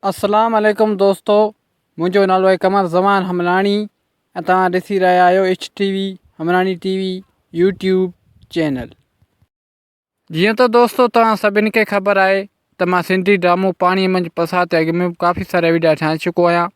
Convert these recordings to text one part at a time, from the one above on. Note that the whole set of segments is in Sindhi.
اسلام عليڪم دوستو منهنجو نالو آهي قمر زمان حملاڻي ۽ توهان ڏسي رهيا آهيو H T V Hamlani T V YouTube channel جيئن ته دوستو توهان سڀني کي خبر آهي ته مان سنڌي ڊرامو پاڻيء منجهه پساهه تي اڳ ۾ به ڪافي سارا وڊيا ٺاهي چڪو آهيان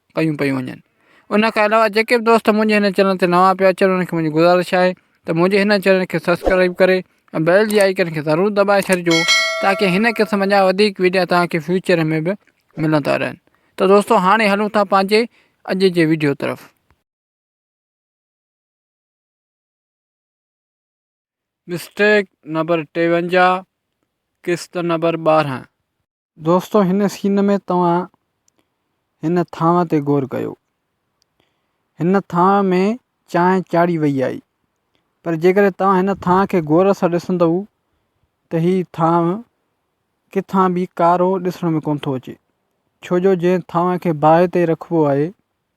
ڪيون پيون وڃن ان کان علاوه جيڪي بھ دوست منھنجي ھن چينل تي نوان پيا اچن انھن کي منھنجي گذارش آھي تھ منھنجي ھن چينل کي سبسڪرائيب ڪري ۽ بيل جي آئيڪن کي ضرور دٻائي ڇڏجو تاڪي ھن قسم جا وڌيڪ وڊيا توھان کي فيوچر ۾ بھ ملندا رھن تھ دوستو ھاڻي ھلون ٿا پنھنجي اڄ جي وڊيو طرف. مسٽيڪ نمبر ٽيونجاهه قسط نمبر ٻارهن. دوستو هن سين ۾ توهان هن ٿانو تي غور ڪيو هن ٿانو ۾ چانهه چاڙهي وئي آهي پر جيڪڏهن توهان هن ٿانو کي غور سان ڏسندؤ ته هي ٿانو ڪٿان به ڪارو ڏسڻ ۾ ڪونه ٿو اچي ڇو جو جنهن ٿانو کي باهه تي رکبو آهي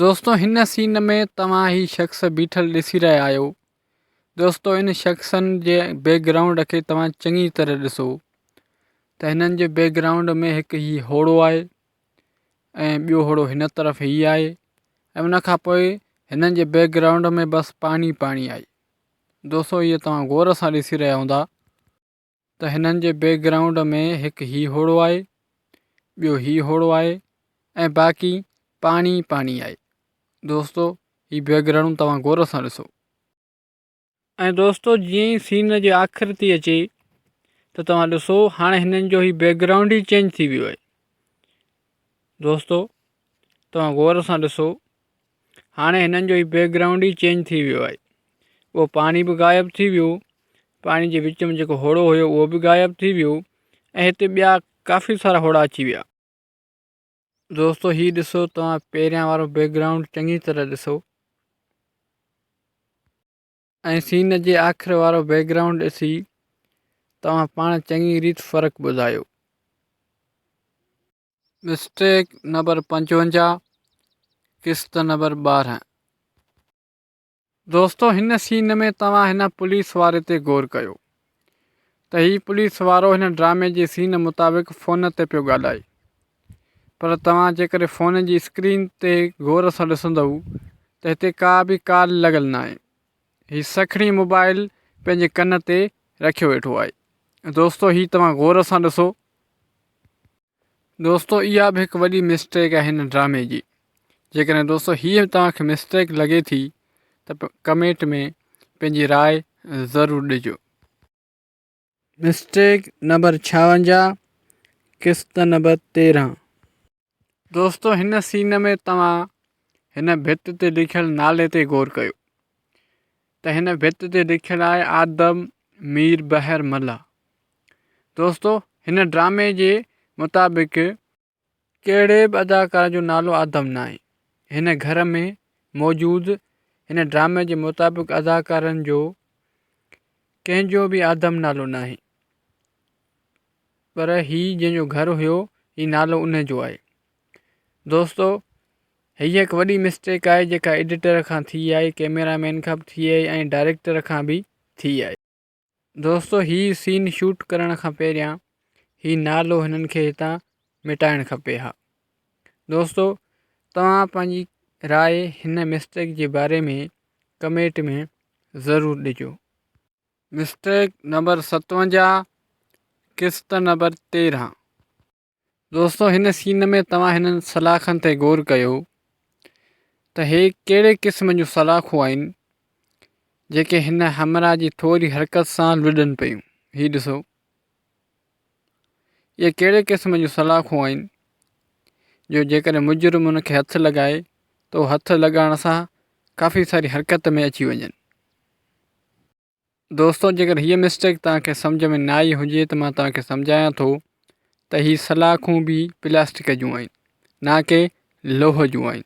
دوستو هن سين ۾ توهان هي شخص بيٺل ڏسي رهيا آهيو دوستو ان شخصن جي بيڪ گرائونڊ کي توهان چڱي طرح ڏسو ته هنن جي بيڪ گرائونڊ ۾ هڪ هي هوڙو آهي ۽ ٻيو هوڙو هن طرف هي آهي ۽ ان کان پوء هنن جي بيڪ گرائونڊ ۾ بس پاڻي پاڻي آهي دوستو هي توهان غور سان ڏسي رهيا هوندا ته هنن جي بيڪ گرائونڊ ۾ هڪ هي هوڙو آهي، ٻيو هي هوڙو آهي ۽ باقي پاڻي ئي پاڻي آهي. دوستو هي بيڪ گرائونڊ توهان غور سان ڏسو. ۽ دوستو جيئن ئي سين جي آخر ٿي اچي ته توهان ڏسو هاڻي هنن جو هي بيڪ گرائونڊ ئي چينج ٿي ويو آهي. دوستو توهان غور سان ڏسو هاڻي هنن جو هي بيڪ گرائونڊ ئي چينج ٿي ويو آهي اهو پاڻي به غائب ٿي ويو پاڻي جي وچ ۾ جيڪو هوڙو هيو اهو به غائب ٿي ويو ۽ هتي ٻيا ڪافي سارا هوڙا اچي ويا دوستو هي ڏسو توهان پهريان وارو بيڪ گرائونڊ چڱي طرح ڏسو ۽ سين جي آخر وارو بيڪ گرائونڊ ڏسي توهان پاڻ چڱي ريت فرق ٻڌايو. مسٽيڪ نمبر پنجونجاهه قسط نمبر ٻارهن. دوستو هن سين ۾ توهان هن پوليس واري تي غور ڪيو ته هي پوليس وارو هن ڊرامي جي سين مطابق فون تي پيو ڳالهائي پر توهان جيڪڏهن فون جي اسڪرين تي غور سان ڏسندؤ ته هتي ڪا به ڪال لڳل ناهي هي سکڻي موبائل پنهنجي ڪن تي رکيو ويٺو آهي دوستو هي توهان غور سان ڏسو دوستو اها به هڪ وڏي مسٽيڪ آهي هن ڊرامي جي جيڪڏهن دوستو هيء توهان کي مسٽيڪ لڳي ٿي ته ڪمينٽ ۾ پنهنجي راء ضرور ڏجو. مسٽيڪ نمبر ڇاونجاهه قسط نمبر تيرهن. دوستو هن سين ۾ توهان هن ڀت تي لکيل نالي تي غور ڪيو ته هن ڀت تي لکيل آهي آدم مير بحر ملا. دوستو هن ڊرامي جي مطابق ڪهڙي به اداڪار جو نالو آدم ناهي. هن گهر ۾ موجود هن ڊرامي جي مطابق اداڪارن جو ڪنهن جو به آدم نالو ناهي پر هي جنهن جو گهر هيو هي نالو ان جو آهي. دوستو هيء هڪ وڏي مسٽيڪ آهي جيڪا ايڊيٽر کان ٿي آهي ڪيميرا مين کان به ٿي آهي ۽ ڊائريڪٽر کان به ٿي آهي دوستو هي سين شوٽ ڪرڻ کان پهريان هي نالو هنن کي هتان مٽائڻ کپي ها دوستو توهان پنهنجي راء هن مسٽيڪ جي باري ۾ ڪميٽ ۾ ضرور ڏجو مسٽيڪ نمبر ستوجا قسط نمبر تيرهن دوستو هن سين ۾ توهان هنن سلاخن تي غور ڪيو ته هي ڪهڙي قسم جون سلاخون آهن جيڪي هن همراهه جي ٿوري حرڪت سان لڏن پيون هي ڏسو اهي ڪهڙي قسم جون سلاخون آهن جو جيڪڏهن مجرم ان کي هٿ لڳائي تو هٿ لڳائڻ سان ڪافي ساري حرڪت ۾ اچي وڃن دوستو جيڪر هيء مسٽيڪ توهان کي سمجهه ۾ نه آئي هجي ته مان توهان کي سمجهايان ٿو ته هي سلاخون به پلاسٽڪ جون آهن نه ڪي لوهه جون آهن.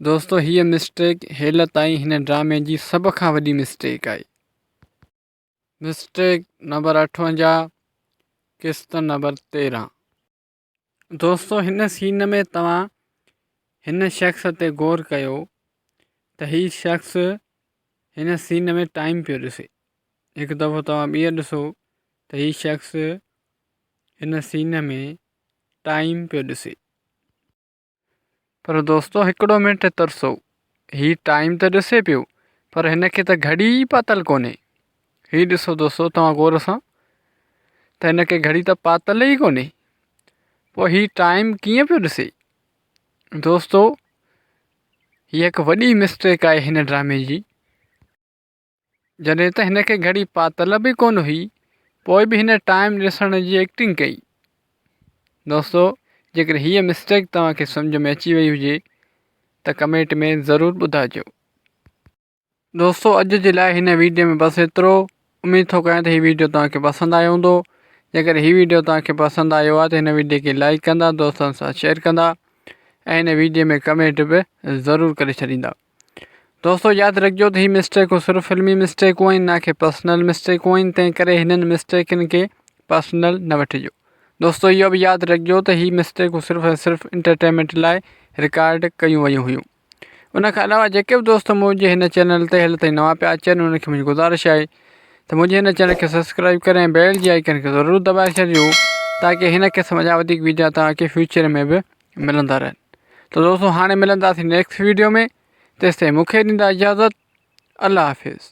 دوستو هيء مسٽيڪ هيل تائين هن ڊرامي جي سڀ کان وڏي مسٽيڪ آهي. مسٽيڪ نمبر اٺونجاهه قسط نمبر تيرهن. دوستو هن سين ۾ توهان هن شخص تي غور ڪيو ته هي شخص هن سين ۾ ٽائم پيو ڏسي هڪ دفعو توهان ٻيهر ڏسو ته هي شخص هن سين ۾ ٽائم پيو ڏسي پر دوستو هڪڙو منٽ ترسو، هي ٽائيم ته ڏسي پيو پر هن کي ته گهڙي ئي پاتل ڪونهي. هي ڏسو دوستو توهان غور سان ته هن کي گهڙي ته پاتل ئي ڪونهي پوء هي ٽائيم ڪيئن پيو ڏسي. دوستو هي هڪ وڏي مسٽيڪ آهي هن ڊرامي جي. جڏهن ته هن کي گهڙي پاتل به ڪونه هئي پوء به هن ٽائيم ڏسڻ جي ايڪٽنگ ڪئي. دوستو جيڪڏهن هيء مسٽيڪ توهان کي سمجهه ۾ اچي وئي هجي ته ڪمينٽ ۾ ضرور ٻڌائجو. دوستو اڄ جي لاء هن ويڊيو ۾ بس ايترو. اميد ٿو ڪريان ته هي ويڊيو توهان کي پسند آيو هوندو. جيڪڏهن هي ويڊيو توهان کي پسند آيو آهي ته هن ويڊيو کي لائيڪ ڪندا، دوستن سان شيئر ڪندا ۽ هن ويڊيو ۾ ڪمينٽ به ضرور ڪري ڇڏيندا. دوستو ياد رکجو ته هي مسٽيڪون صرف فلمي مسٽيڪون آهن نه ڪي پرسنل مسٽيڪون آهن تنهن ڪري هنن مسٽيڪن کي پرسنل نه وٺجو دوستو اهو به ياد رکجو ته هي مسٽيڪون صرف ۽ صرف انٽرٽينمينٽ لاء رڪارڊ ڪيون ويون هيون ان کان علاوه جيڪي به دوست منهنجي هن چينل تي هل تائين نوان پيا اچن انهن کي منهنجي گزارش آهي ته منهنجي هن چينل کي سبسڪرائب ڪري ۽ بيل جي آئڪن کي ضرور دٻائي ڇڏجو تاڪي هن قسم جا وڌيڪ ويڊيا توهان کي فيوچر ۾ به ملندا رهن ته دوستو هاڻي ملنداسين نيڪسٽ ويڊيو ۾ تيستائين مونکي ڏيندا اجازت الله حافظ